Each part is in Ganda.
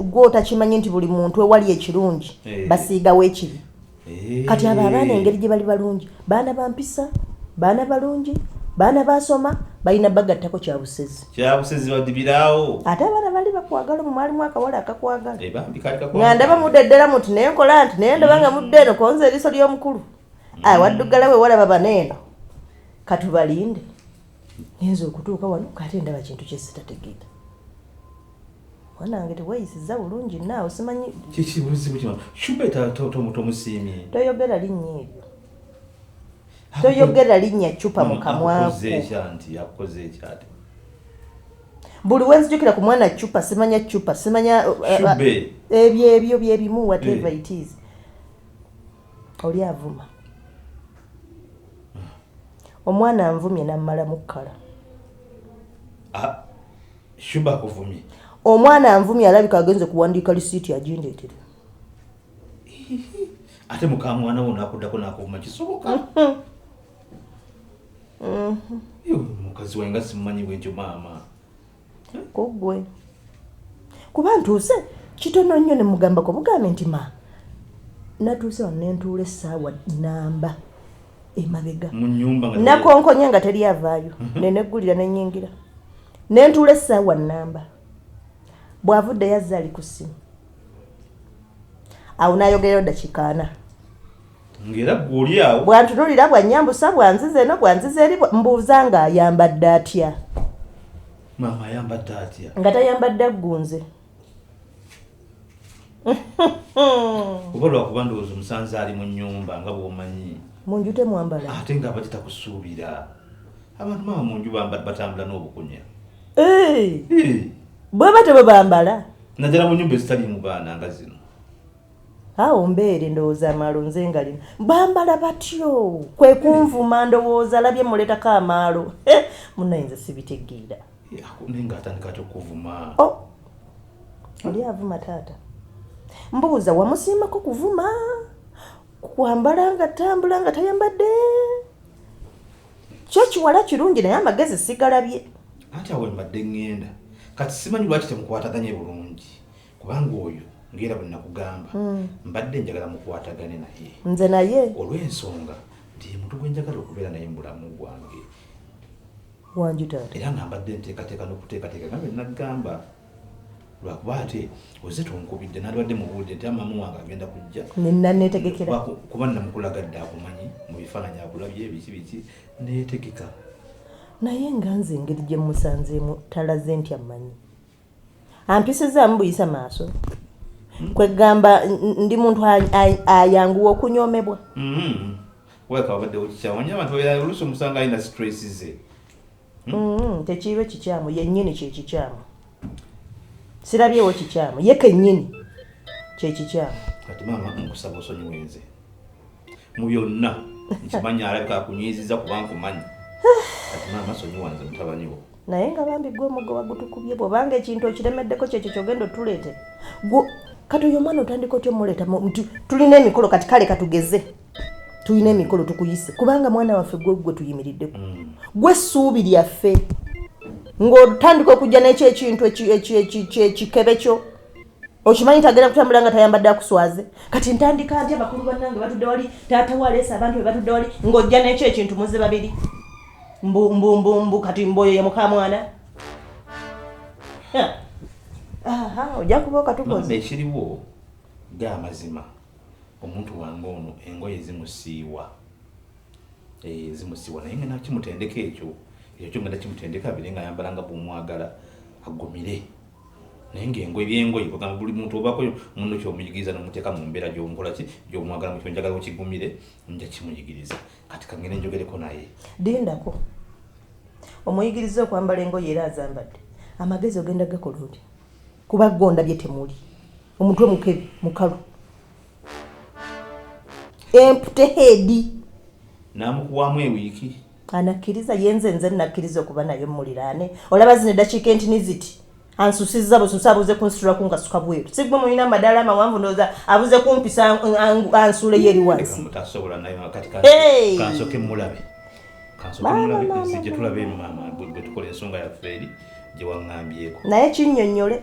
gwe otakimanyi nti buli muntu ewali ekirungi eh. basiigawo ekibi eh. kati abo abaana engeri gye bali balungi baana bampisa baana balungi baana basoma balina bagattako kyabusezi kyabusizi badibiraawo ate abaana bali bakwagala mu mwalimu akawala akakwagala eh, nga ndaba mudde ddala muti naye nkola nti naye ndaba nga mudde eno konza eriiso ly'omukulu mm. ah, waddugala we walaba baneeno katubalinde ngenza okutuuka wano kaate ndaba kintu kyesitategeera wanange teweyisiza bulungi naawe simanyi kikibuzibu kino shubeta tomusiimye toyogera linnya ebyo toyogera linnya ccupa mu kamwaku buli wenzijukira ku mwana ccupa simanya ccupa simanya uh, uh, ebyo ebyo byebimu whatever eh. it is oli avuma omwana anvumye nammala mukkala ah, omwana anvumye alabika agenze kuwandiika lisiiti agindeetera ate mukamwana wo nakuddako nakuvuma kisoboka mukazi wange nga simumanyi bwentyo maama kugwe kuba ntuuse kitono nnyo ne mugambako bugambe nti ma natuuse wano nentuula essaawa namba emabega nakonkonye nga teri avaayo mhm. neneggulira nenyingira nentuula essaawa namba bw'avudde yazza ali ku ssimu awo nayogereyo dakiika ana ngera gwoli awo bwantunulira bwanyambusa bwanziza eno bwanziza eri mbuuza nga ayambadde atya maama ayambadde atya nga tayambadde aggunze oba lwakuba ndowooza omusanze ali mu nyumba nga bwomanyi mu nju temwambala ate nga abadde takusuubira abantu maama mu nju batambula n'obukunya bweba tebwebambala naddala mu nyumba ezitaliimu baana nga zino awo mbeere ndowooza amaalo nze nga lino bambala batyo kwe kunvuma ndowooza alabye muleetako amaalo munayinza sibitegeera naye ngaatandika atya okuvuma oh! oli avuma taata mbuuza wamusiimako kuvuma kwambala nga tambula nga tayambadde kyo kiwala kirungi naye amagezi sigalabye anti awo mbadde ŋŋenda kati simanyi lwaki temukwataganye bulungi kubanga oyo ngaera bwe nakugamba hmm. mbadde njagala mukwatagane naye nze naye olw'ensonga nti muntu gwe njagala okubeera naye mubulamu bwange era nga mbadde nteekateeka n'okuteekateeka nga bwe nagamba lwakuba ate oze tonkubidde nalibadde mubuulidde nti amaama wange agenda kujja nenanetegekera kuba namukulagadde akumanyi mu bifaananyi akulabye biki biki netegeka naye nga nze engeri gye musanzeemu talaze nti amanyi ampisizaamu buyisa maaso hmm? kwegamba ndi muntu ayanguwa okunyomebwa hmm. wekabadde okikyawanya abantu olusi omusanga alina stress ze hmm? mm, tekiibe kikyamu yennyini kyekikyamu sirabyewo kikyamu ye kennyini kyekikyamu kati maama nkusaba osonyiwe nze mu byonna nkimanyi alabika akunyiiziza kuba nkumanyi kati maama sonyiwa nze mutabani wo naye nga bambi gwe omugo wagutukubye bwobanga ekintu okiremeddeko kyekyo kyogenda otuleete kati oyo omwana otandika otya omuleeta nti tulina emikolo kati kale katugeze tulina emikolo tukuyise kubanga mwana waffe gwe gwe tuyimiriddeko mm. gwe ssuubi lyaffe ng'otandika okujja n'ekyo ekintu ekikebe kyo okimanyi tagenda kutambula nga tayambadde akuswaze kati ntandika nti abakulu bannange batudde wali taata waleesa abantu be batudde wali ng'ojja n'ekyo ekintu muze babiri mbumbumbu kati mboyo ye mukamwana ojja kuba okatukoze ekiriwo ge amazima Omuntu wange ono engoye zimusiiwa eh, zimusiiwa naye ngenda kimutendeka ekyo ekyo kyo ngenda kimutendeka bire nga ayambala nga bwomwagala agumire naye ngaengoye byengoye ogamba buli muntu obako muno kyomuyigiriza nomuteeka mu mbeera gyomkola ki gyomwagala mukyo njagala okigumire nja kimuyigiriza kati kangende njogereko naye lindako omuyigiriza okwambala engoye era azambadde amagezi ogenda gakola oti kuba gonda bye temuli omutwe mukebi mukalu empute heedi namukuwamu ewiiki anakkiriza yenze nze nakkiriza okuba naye mumuliraane olaba zino eddakiika entini ziti ansusiza bususi abuze kunsitula ku ngasuka bweru sigwe mulina amadaala amawanvu ndooza abuze kumpisa ansuule yo eri wansi naye kinyonyole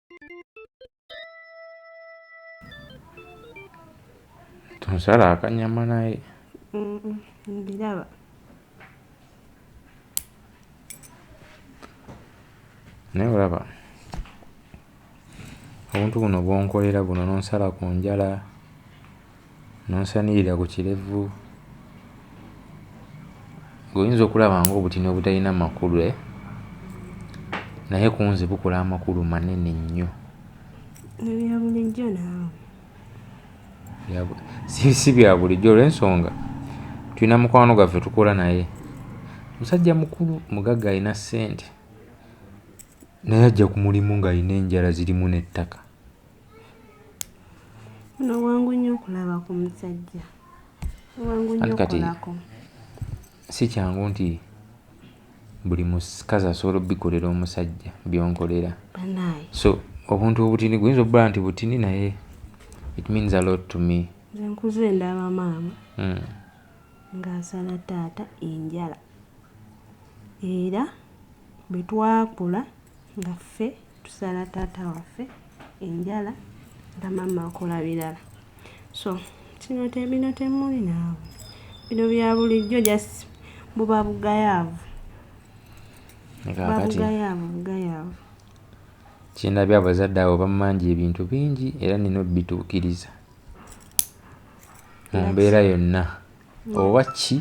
tonsala akanyama naye mbiraba naye olaba obuntu buno bwonkolera buno nonsala ku njala N'onsanirira ku kirevu. Ggwe oyinza okulaba ng'obutini obutalina makulu eh? Naye ku nze bukola amakulu manene nnyo. Ebyo bya bulijjo naawe. Si, si bya bulijjo olw'ensonga tulina mukwano gwaffe tukola naye musajja mukulu mugagga alina ssente naye ajja ku mulimu ng'alina enjala zirimu n'ettaka. Ono wangu nnyo okulaba ku musajja wangu nnyo okulako si kyangu nti buli mukazi asobola obikolera omusajja byonkolera so obuntu obutini guyinza obula nti butini naye it means a lot to me nkuze ndaba maama hmm. ng'asala taata enjala era bwe twakula nga ffe tusala taata waffe enjala nga mama akola birala so kino tebino temuli naawe bino bya bulijjo just buba bugayaavu babugayaavu bugayaavu kyendabye abazadde abo bamanja ebintu bingi era nina obituukiriza mu mbeera yonna oba ki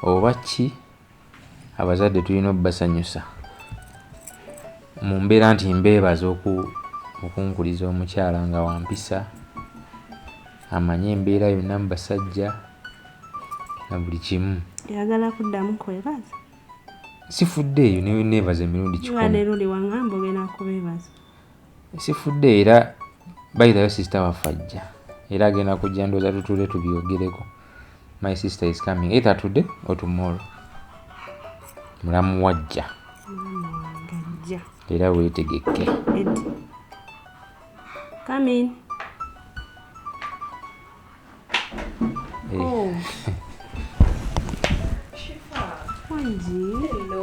oba ki Abazadde tulina okubasanyusa mu mbeera nti mbeebaza okunkuliza omukyala nga wa mpisa, amanyi embeera yonna mu basajja na buli kimu. Oyagala kuddamu kwebaza? Sifuddeeyo neebaza emirundi kikumi. Wano erundi wang'amba ogenda kubeebaza. sifudde era bayitayo sister waffe ajja era agenda kujja ndooza tutule tubyogereko my sister is coming either today or tomorrow mulamu wajja era weetegekke Coming. Hey. Oh. Shifa. Hello.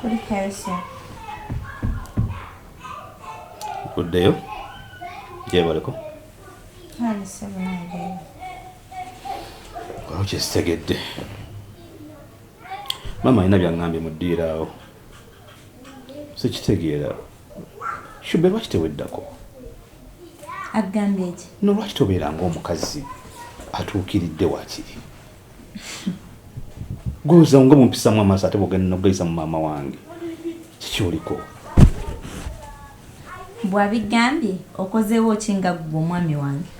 kuli calcium kuddeyo gyebaliko tandise bunange awo kyesitegedde maama alina byaŋambye mu ddiiro awo sikitegeera shube lwaki teweddako agambye ki no lwaki tobeera ngaomukazi atuukiridde wakiri gwoza nga mumpisamu amaaso ate bwogenda nogayisa mu maama wange kiki oliko bwabigambye okozeewo ki nga gwe omwami wange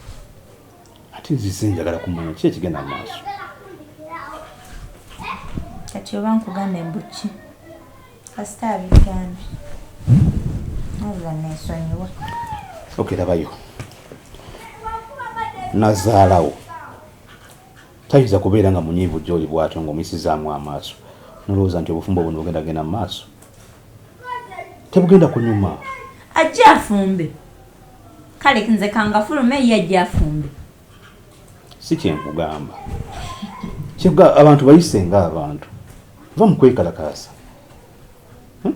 ate nzize njagala kumanya ki ekigenda mu maaso kati oba nkugamba embuki kasita abigambye nabula nesonyiwa okerabayo nazaalawo Tayinza kubeera nga munyiivu gy'oli bw'atyo ng'omuyisizaamu amaaso n'olowooza nti obufumbo buno bugenda kugenda mu maaso. Tebugenda kunyuma. Ajje afumbe. Kale nze kangafulume ye ajje afumbe. Si kye nkugamba. Kyebwa abantu bayise nga abantu. Va mu kwekalakaasa. Hm?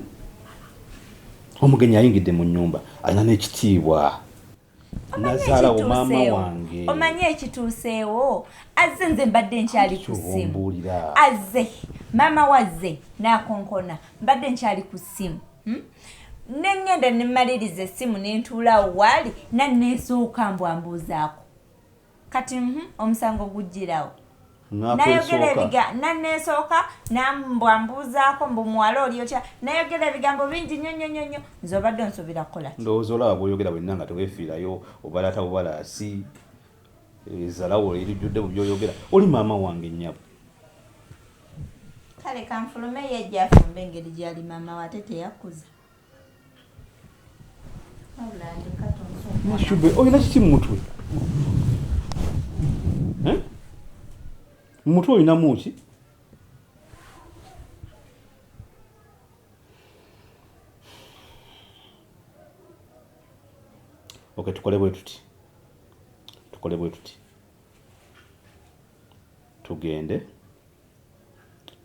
Omugenyi ayingidde mu nnyumba alina n'ekitiibwa. nazaala wamaama wange omanyi ekituuseewo azze nze mbadde nkyali ku ssimu azze maama wazze nakonkona mbadde nkyali ku ssimu hmm? nengenda nemaliriza essimu nentuulaawo waali naneesooka mbwambuuzaako kati mhm, omusango gujjirawo nayogera ebiga nanesooka nambwa mbuuzaako mbu muwala oli otya nayogera ebigambo bingi nyo nyo nyo nyo nze obadde onsuubira kukola ki ndowooza olaba bwoyogera bwenna nga tewefiirayo obalaata bubalaasi ezalawo eh, erijjudde mu byoyogera oli maama wange nnyabo kale kanfulume yajja afumba engeri gyali maama wate teyakuza Mashube, oh, olina kiki mu mutwe? Eh? Mu mutwe olinamu ki? Okay, tukole bwe tuti. Tukole bwe tuti. Tugende.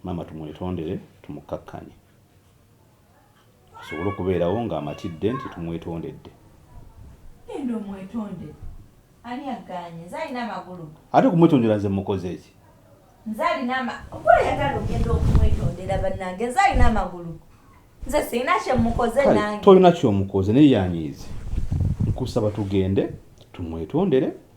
Mama tumwetondere, tumukkakkanye. asobole okubeerawo ng'amatidde nti tumwetondedde. Genda omwetondere. Ani aggaanye? Nze alina amagulu. Ate okumwetondera nze mmukoze ki? Nze alina ama. Gwe oyagala ogenda okumwetondera bannange? Nze alina amagulu. Nze sirina kye mmukoze Kale nange. tolina ky'omukoze naye yanyiize. Nkusaba tugende tumwetondere.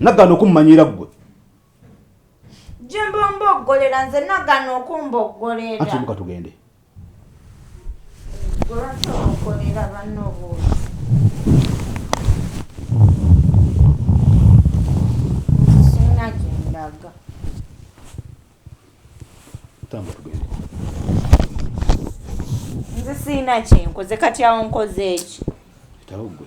nagana okummanyira ggwe jemba omboggolera nze nagana okumboggolera ati muka tugende gwebasobokolera banna obuuzi sina gyendaga tamba tugende nze siina kyenkoze kati awo nkoze eki etawo gwe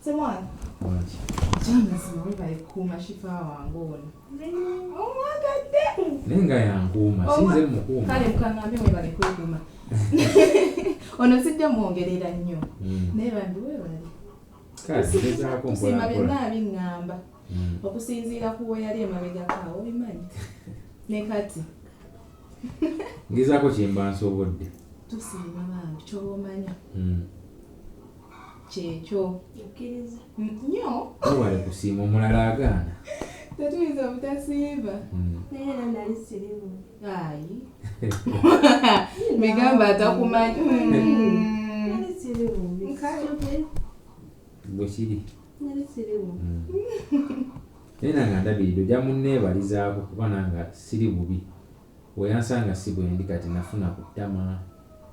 Semwana. Mwaki. Jana sima webale kukuuma shifa wange ono. Omwagadde. Naye nga yankuuma sinze mukuuma. Kale mukaŋŋambe webale kwekuuma. Ono sijja mwongerera nnyo. Hmm. Naye bambi webale. Kale ngezaako mpola mpola. Byonna abiŋŋamba. Hmm. Okusinziira ku weyali emabegako awo obimanyi. Ne kati. Ngezaako kyemba nsobodde. Tusiima bambi kyoba omanya. Hmm. kyekyo nyo wewale kusiima omulala agaana tetuyinza obutasiiba hmm. naye era nali sirimu ayi migamba atakumanyi bwekiri naye nange andabirira ojja munneebalizaako kuba nanga siri bubi weyansanga si bwendi kati nafuna ku ttama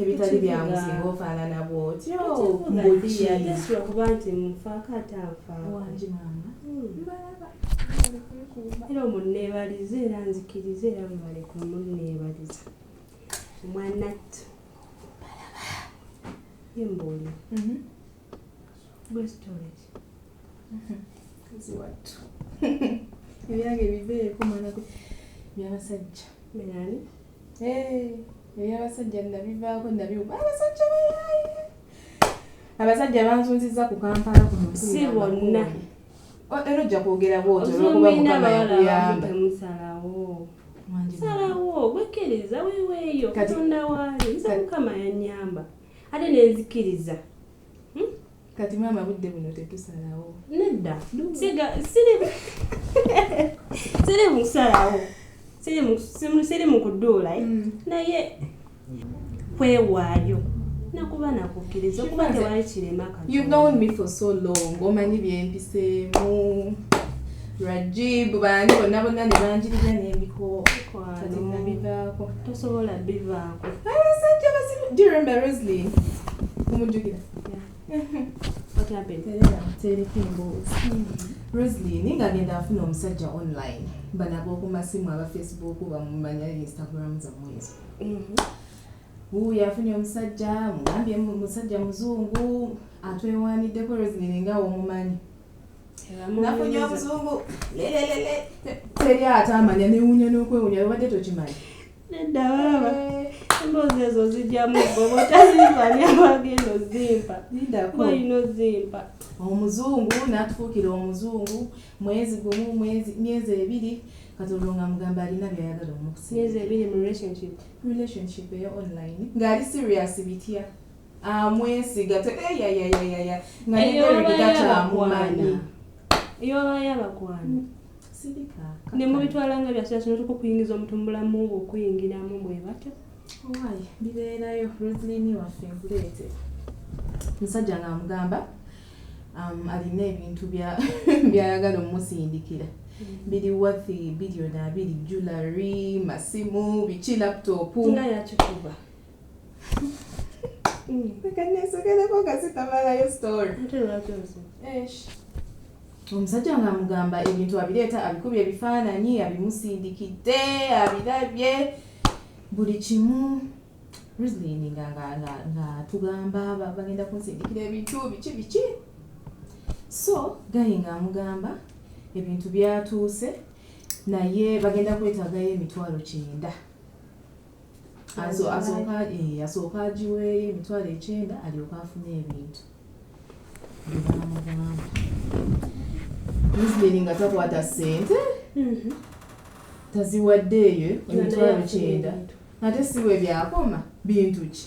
ebitali byangu singa ofaanana bwotyo mbukiolwokuba nti mufaako ate anfawangi maama mbalaba hmm. era omunneebalize era nzikirize era bwebale ku munneebaliza omwanattu mbalaba ye mbuuli mhm. gwe storage mhm. ziwattu ebyange bibeeko mwana byabasajja Melani. Hey, eyo abasajja nabivaako nabiwuba abasajja bayaaye abasajja banzunzizza ku kampala kuno si bonna era ojja kwogera bwotomukamayakuyambamusalawo salawo gwekkiriza weweeyo katonda waali nze mukama yanyamba ate nenzikiriza Kati maama budde buno tetusalawo. Nedda. Siga siri siri musalawo. Siri mu siri mu kuduula eh. Mm. Naye kwewaayo. Nakuba nakukkiriza okuba tewali kirema kati. You've known me for so long. Omanyi byempiseemu. Rajib bandi bonna bonna ne banjirira n'emikoo. Kati nabivaako. Tosobola bivaako. Abasajja basimu. Do you remember Rosaline? Omujjukira. roslin ngagenda afuna omusajja online banaba okumasimu aba facebook bamumanya instagram zamwe ezo wuuyo mm-hmm. afunye omusajja mugambye musajja muzungu atwewaniddeko roslin nga omumanyi nafunye omuzungu lelelele teri ate amanya newunya nokwewunya obadde tokimanyi nedda baaba emboozi ezo zijjamu goba otazimpa nyabagenda ozimpa olina ozimpa omuzungu natufuukira omuzungu mwezi gumu mwezi myezi ebiri katonda nga mugamba alina byayagala omukusimyezi ebiri mu relationship relationship eyo online ngaali serious bitya amwesiga te eyayayayaya nga neeregataamumaana eyobayo abakwana ne mubitwala nga byasira kino tuka okuyingiza omuntu mu bulamu bwe okuyingiramu bwe batyo owaye bibeerayo roslin waffe nkuleete musajja nga amugamba um, alina ebintu byayagala omusindikira mm. biri wathi biliyoni abiri julary masimu biki laptop nga yakikuba omusajja nga amugamba ebintu abireeta abikubye ebifaananyi abimusindikidde abirabye buli kimu rislin nga nga tugamba bagenda kunsindikira ebintu biki biki so gayi nga amugamba ebintu byatuuse naye bagenda kwetagayo emitwalo kyenda asooka agiweeyo eh, emitwalo ekyenda alyoke afune ebintu byebaamugamba museveni nga takwata sente mhm. taziwaddeeyo emitwalo kyenda ate si bwe byakoma bintu ki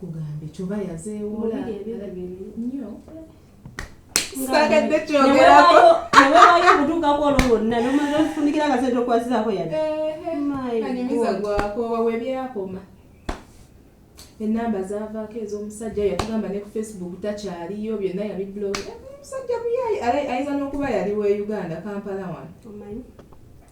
kugambe kyoba yazeewola nnyo sagadde kyogerako newewayo okutuukako olwo lwonna nomala ofundikira akasente okwasizaako yadde anyumiza gwakoowa webyakoma enamba zavaako ez'omusajja yatugamba ne ku facebook takyaliyo byonna yabiblog omusajja muyayi ayinza n'okuba yali we uganda kampala wano